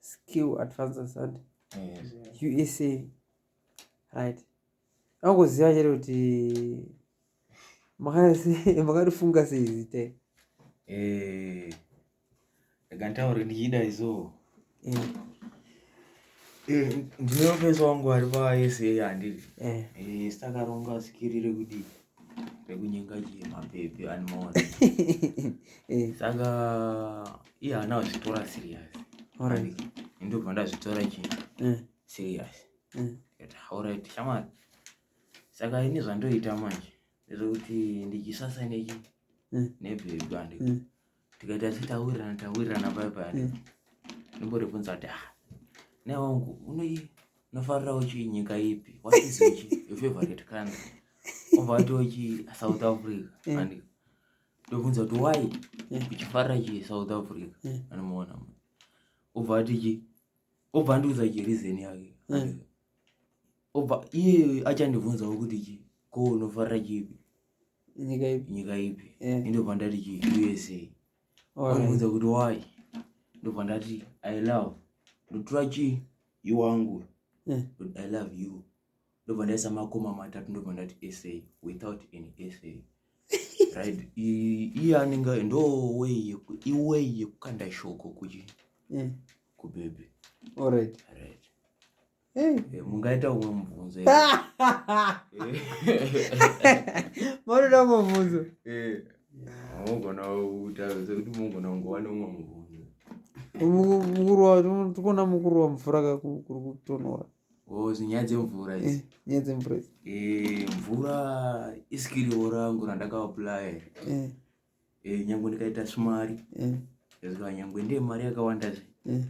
skill advances and usa right angoziva chete kuti makarifunga sei zita eh, akantaura ndichida izo eh. eh, ndinopesa wangu ari pasa andiri sitakaronga sikirire kudii pekunyenga chii mapepi ani maona eh. saka iye ana azvitora serious ndobva ndazvitora chii eh. serious eh. ndikati alright shamwari saka ini zvandoita manje ndezvekuti ndichisasa nechi nebhebhi andiko tikaita tichitaurirana taurirana paya paya hmm. ndomboribvunza kuti ah ne wangu unoi unofarira uchi nyika ipi what is uchi your favorite country obva wati uchi south africa hmm. and ndobvunza kuti why hmm. uchifarira chi south africa anomuona obva ati chi obva andiudza chi reason yake obva iye achandibvunzawo kuti chi ko unofarira chipi nyika ipi nyika ipi yeah. ndobva ndati chi usa anobvunza kuti why ndobva ndati i love ndotura chi iwangu yeah. i love you ndobva ndaisa makoma matatu ndobva ndati sa without any sa right iye anenge ndo way iway yekukanda shoko kuchi yeah. kubebe alright right. Eh, mungaita umwe mubvunzo monoda umwe mubvunzo mogona kutaridza kuti mogona kungowana umwe mubvunzo mukuruwa tikuona mukuruwa mvura kakuri kutonora oh, nyaya dzemvura eh, nyaya dzemvura eh, mvura isikiriwo rangu randakaaplaya eh, nyange ndikaita smari eh. ezika nyange ndiye mari yakawanda zve eh.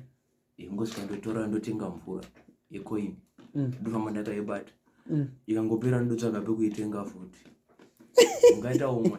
ingosvika ndotora ndotenga mvura yecoin mm. ndofamba ndakaibata mm. ikangopera ndotsvaga pekuitenga futi ungaita umwe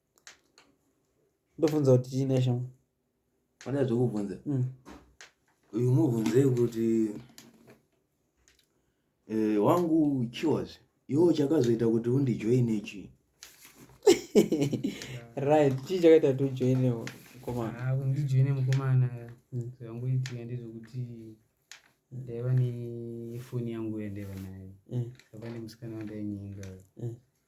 ndofunza kuti chii neshamo pane zvekubvunza mm. uyu mubvunzei kuti eh, wangu chiwas iwo chakazoita kuti undijoine chii right chii chakaita kuti ujoine mukomana ah, undijoine mukomana mm. zvangoitika ndezvekuti ndaiva nefoni yangu yandaiva nayo mm. saka nemusikana wandainyenga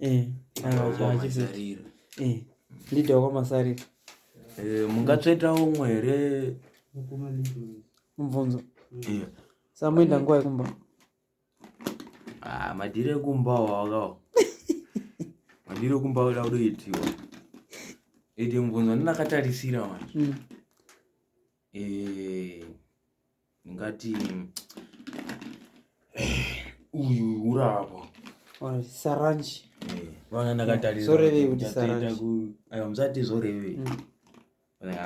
eh, eh, ndida kwamasarira eh, mungatsvetawo umwe here mubvunzo samoenda nguva yekumba ah, madhiri ekumba wawakawo madhiri ekumba oda kudoitiwa iti mubvunzo ndinakatarisira manje mm. eh, ndingati uyu uravo saranji eh, vana ndakatarisore kuti saranji ayo musati zvoreve mm.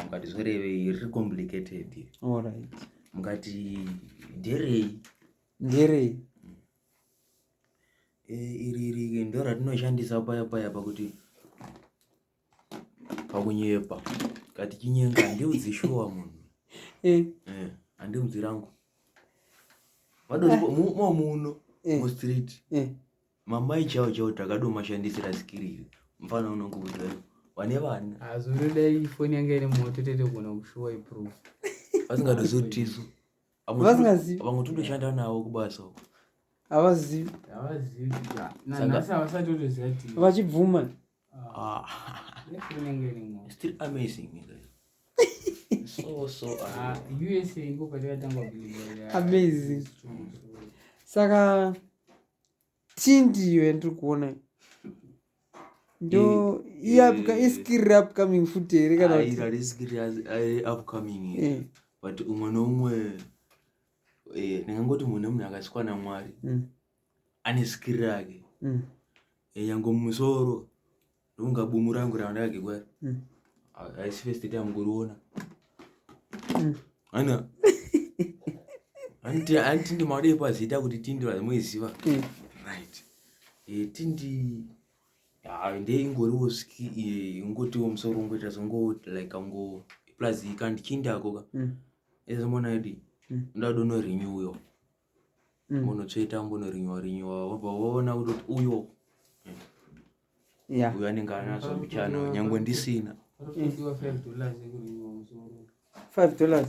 mukati zvoreve riri complicated alright mukati nderei nderei eh, iri iri ndo ratinoshandisa paya paya pakuti pakunyepa kati chinyenga handiudzi shuwa munhu eh. eh, handiudzi rangu vadodimo muno eh. mustreet eh. mamai chao chao takadomashandisira skiriri mfana unongokuta vane vana azurudai ah, foni yanga iri moto tete kugona kushuwa iproof vasingadozivi kuti tisu vamwe totoshanda navo kubasa uko havazivi vachibvuma Ah. Still amazing, you guys. so, so, uh, ah, USA iko patakatanga kuliva. Amazing. Saka, tii ndiyo yandiri kuona ndo iskiri upcoming futi here kanaaiskiri upcoming eh. but umwe noumwe eh, ndingangoti mune munhu akasvikwa namwari mm. ane zikiri rake mm. yango mumusoro ndokunga bumu rangu randakagekwa mm. haisi first time ngoriona mm. ana anti ndimaudei pazita kuti tindi vamoiziva mm. right eh, tindi ndeingoriwo ski eh, ingotiwo musoro ungoita songo like ango plus ikandichinda akoka ezomona idi ndadonorinyuyo mm. unotsveta umbonorinyiwa rinyiwa wabva woona kutoti uyo yeah. uyo anenge anazo muchano nyangwe ndisina five dollars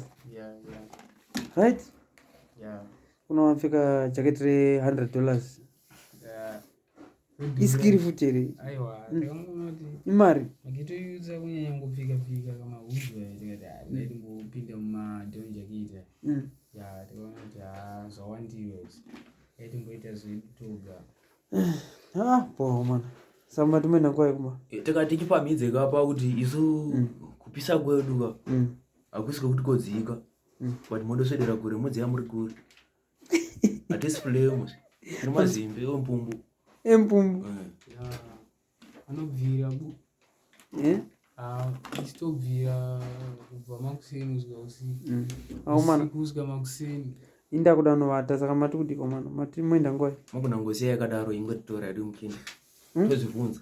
right yeah. unowapfeka jacket re hundred dollars isikiri futi here imari makitoiudza kunyanya ngopfika pfika kama huzwa tikati ah, mm. ndingopinda mumadhonja kuita mm. ya tikaona kuti ha ah, zvawandiwe yaitimboita zvedu toga ah, poho mana samba timene nguva yekuma eh, tikati tichipamhidze kapa kuti isu mm. kupisa kwedu ka hakusi kwekuti kodzika but mondoswedera kure modziya muri kure atisi fulemu nemazimbe empumbu empumbu anobvira bu ichitobvira kubva makuseni kusvika usiku kusvika makuseni inda kuda novata saka mati kuti komana mati moenda ngoi makuna ngozi yakadaro ingotitora yadi mukindi tozvibvunza